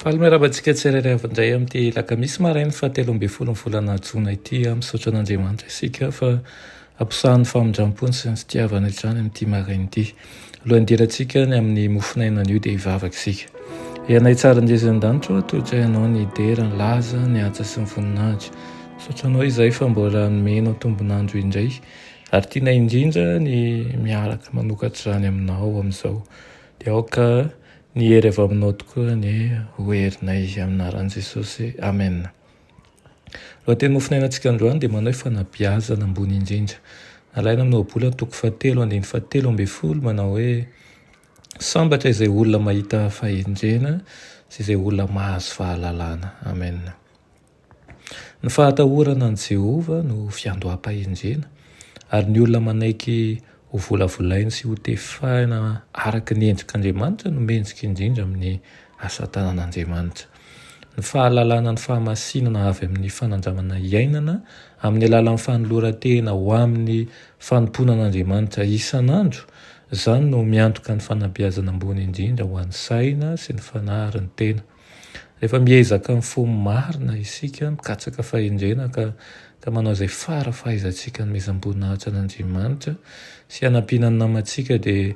Faly miarahaba antsika tsirairay avy indray amin'ity lakamisy marain'ny fahatelo ambin'ny folo ny volana jona ity. Misaotra an'Andriamanitra isika fa ampisahan'ny famindram-pony sy ny fitiavany hatrany amin'ity maraina ity. Alohan'ny hidirantsika ny amin'ny mofonaina anio dia hivavaka isika. Ianay tsara indrezy an-danitra, tohitra ianao ny dera, ny laza, ny asa sy ny voninahitra. Misaotra anao izay fa mbola nomenao tombon'andro indray ary tianay indrindra ny miaraka manokatra izany aminao amin'izao. Dia aoka Ny hery avy aminao tokoa ny ho herinay amin'aran'i Jesosy Amen. Lohateny mofonainantsika androany dia manao hoe fanabiazana ambony indrindra. Alaina amin'ny ohabolana toko fahatelo andininy fahatelo ambin'ny folo manao hoe sambatra izay olona mahita fahendrena sy izay olona mahazo fahalalana. Amen. Ny fahatahorana an'i Jehovah no fiandoham-pahendrena, ary ny olona manaiky hovolavolainy sy hotefahina araka ny endrik'Andriamanitra no mendrika indrindra amin'ny asa tanan'Andriamanitra. Ny fahalalana ny fahamasinana avy amin'ny fanandramana iainana amin'ny alalan'ny fanoloran-tena ho amin'ny fanompoana an'Andriamanitra isan'andro, izany no miantoka ny fanabeazana ambony indrindra ho an'ny saina sy ny fanahy ary ny tena. Rehefa miezaka mifoha marina isika, mikatsaka fahendrena ka ka manao izay fara fahaizantsika hanomezam-boninahitra an'Andriamanitra sy hanampiana ny namantsika dia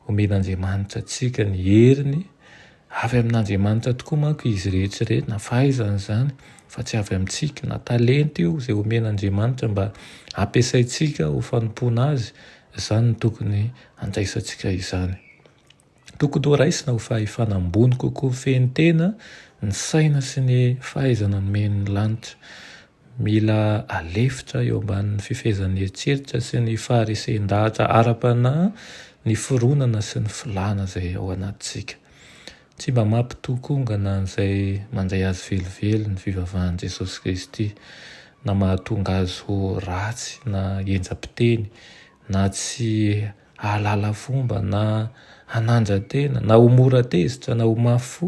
omen'Andriamanitra antsika ny heriny, avy amin'Andriamanitra tokoa manko izy rehetra ireny na fahaizana izany fa tsy avy amintsika, na talenta io izay omen'Andriamanitra mba hampiasaintsika ho fanompoana Azy, izany no tokony handraisantsika izany. Tokony ho raisina ho fahefana ambony kokoa feno tena ny saina sy ny fahaizana nomen'ny lanitra. Mila alefitra eo ambanin'ny fifehezan'ny eritreritra sy ny faharesen-dahatra ara-panahy ny fironana sy ny filana izay ao anatintsika. Tsy mba mampitokongana an'izay mandray azy velively ny fivavahan'i Jesosy Kristy, na mahatonga azy ho ratsy na henjam-piteny na tsy hahalala fomba na hananjan-tena na ho mora tezitra na ho mafy fo.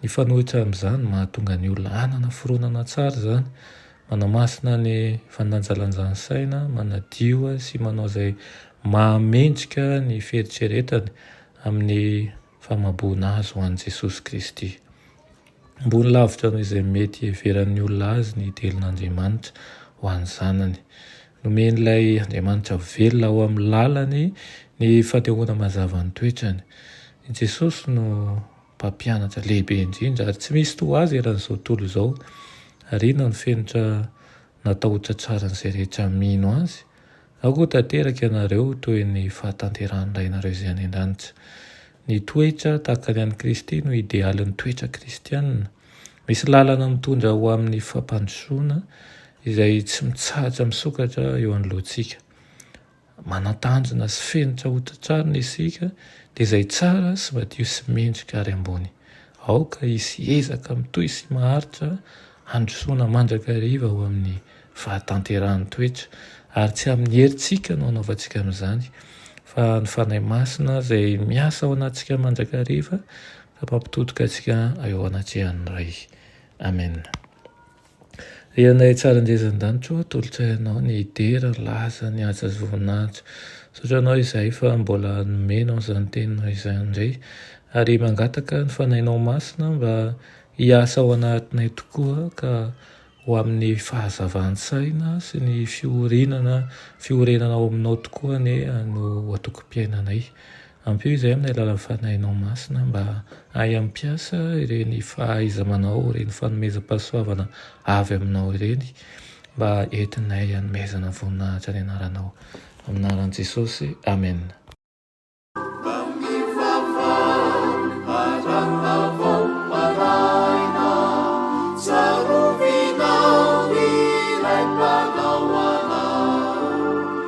Mifanohitra amin'izany no mahatonga ny olona hanana fironana tsara izany. Manamasina ny fandanjalanjan'ny saina, manadio sy manao izay mahamendrika ny fieritreretany amin'ny famaboana azy ho an'i Jesosy Kristy. Ambony lavitra noho izay mety hiheveran'ny olona azy ny delon'Andriamanitra ho an'ny Zanany. Nomen'ilay Andriamanitra velona ao amin'ny lalany ny fanehoana mazava ny toetrany. I Jesosy no Mpampianatra lehibe indrindra, ary tsy misy toa Azy eran'izao tontolo izao. Ariana ny fenitra natao ho tsatsarin'izay rehetra mino azy, aoka ho tanteraka ianareo toy ny fahatanterahan'ny Rainareo izay any an-danitra. Ny toetra tahaka ny an'i Kristy no idealin'ny toetra kristiana. Misy lalana mitondra ho amin'ny fampandrosoana izay tsy mitsahatra misokatra eo anoloantsika. Manan-tanjona sy fenitra hotratrarina isika, dia izay tsara sy madio sy mendrika ary ambony. Aoka hisy ezaka mitohy sy maharitra handrosoana mandrakariva ho amin'ny fahatanterahan'ny toetra, ary tsy amin'ny herintsika no hanaovantsika an'izany, fa ny Fanahy Masina izay miasa ao anatintsika mandrakariva ka mampitodika antsika eo anatrehan'ny Ray. Amena. Ry anay tsara indrindra an-danitro ô, tolotsay anao ny hidera ny laza, ny haja sy voninahitra. Misaotra anao izahay fa mbola nomenao izany teninao izany indray, ary mangataka ny fanahinao masina mba hiasa ao anatinay tokoa ka ho amin'ny fahazavan-tsaina sy ny fiorinana, fiorenana ao aminao tokoa anie no antokom-piainanay. Ampio izay amin'ny alalan'ny Fanahinao Masina mba hahay hampiasa ireny fahaiza-manao, ireny fanomezam-pahasoavana avy Aminao ireny mba entinay hanomezana voninahitra ny Anaranao. Amin'ny Anaran'i Jesosy, amena.